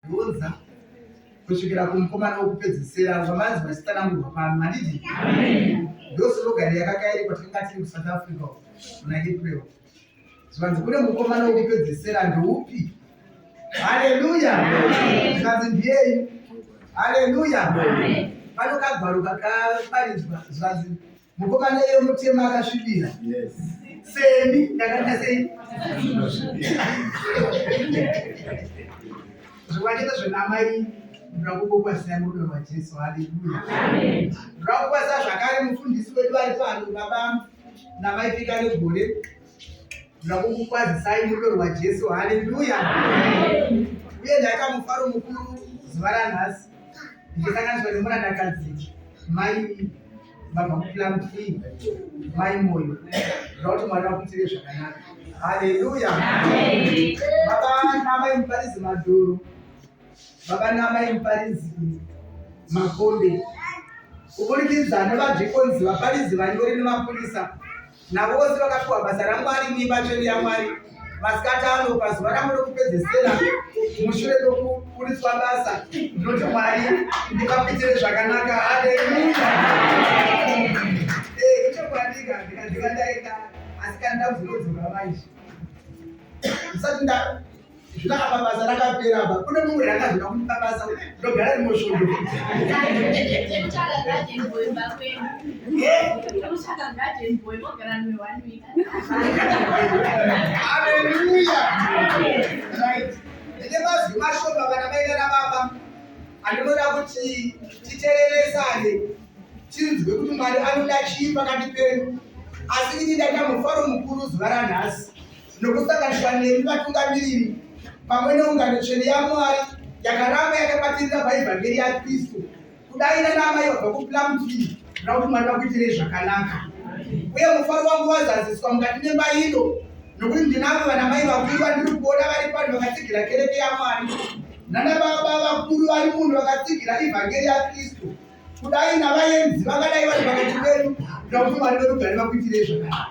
Roza kusvikira kumukomana wokupedzisira zvamanzi vachitsanangurwa pano handiti ndosologari yakakairi kwatakanga tiri kusouth africa muna april zvikanzi kune mukomana wokupedzisira ndoupi haleluya zvikanzi ndiyeyi haleluya panokagwaro kakaparidzwa zvikanzi Mukomana iye mutema akasvibira. Yes. Semi ndakanga sei? Zvikwachete zvenamai ndakukokwasia rudo rwaJesu. Haleluya. Amen. Ndakukwasia zvakare mufundisi wedu vari pano baba namai pika negore. Ndakukukwazisai rudo rwaJesu. Haleluya. Amen. Uye ndakamufaro mukuru zuva ranhasi. Ndichisanganiswa nemurandakadzi mai vabva kuplan b mai moyo zvakuti mwari vakuitire zvakanaka haleluya baba namai muparidzi madhoro baba namai muparidzi makombe kuburikidza nevadzvikonzi vaparidzi vanyori nemapurisa Navo vose vakapiwa basa raMwari neimba tsvene yaMwari masikati ano pazuva rangu rokupedzesera mushure mekuburitswa basa ndinoti mwari ndipapitire zvakanaka haleluya eh, ichokwandika ndikandika ndaenda asi kana ndakuzinodzora vaizvi ndisati zvino apa basa rakapera apa kune mumwe rakazvina kuti pabasa ndogara rimwe svondo aleluya ende mazwi mashoma kana maita nababa andinoda kuti titereresane tinzwe kuti mwari anoda chii pakati penyu asi ini ndaita mufaro mukuru zuva ranhasi nokusanganiswa nemi vatungamiriri pamwe neungano tsvene yamwari yakaramba yakabatirira paevhangeri yakristu kudai nanamai vabva kuplamtii kuda kuti mwari vakuitirei zvakanaka uye mufaro wangu wazaziswa mukati memba ino nokuti ndinavo vanamai vakuru vandiri kuona vari pano vakatsigira kereke yamwari nanababa vakuru vari muno vakatsigira evhangeri yakristu kudai navaenzi vangadai vari pakati pedu kuda kuti mwari verugare vakuitirei zvakanaka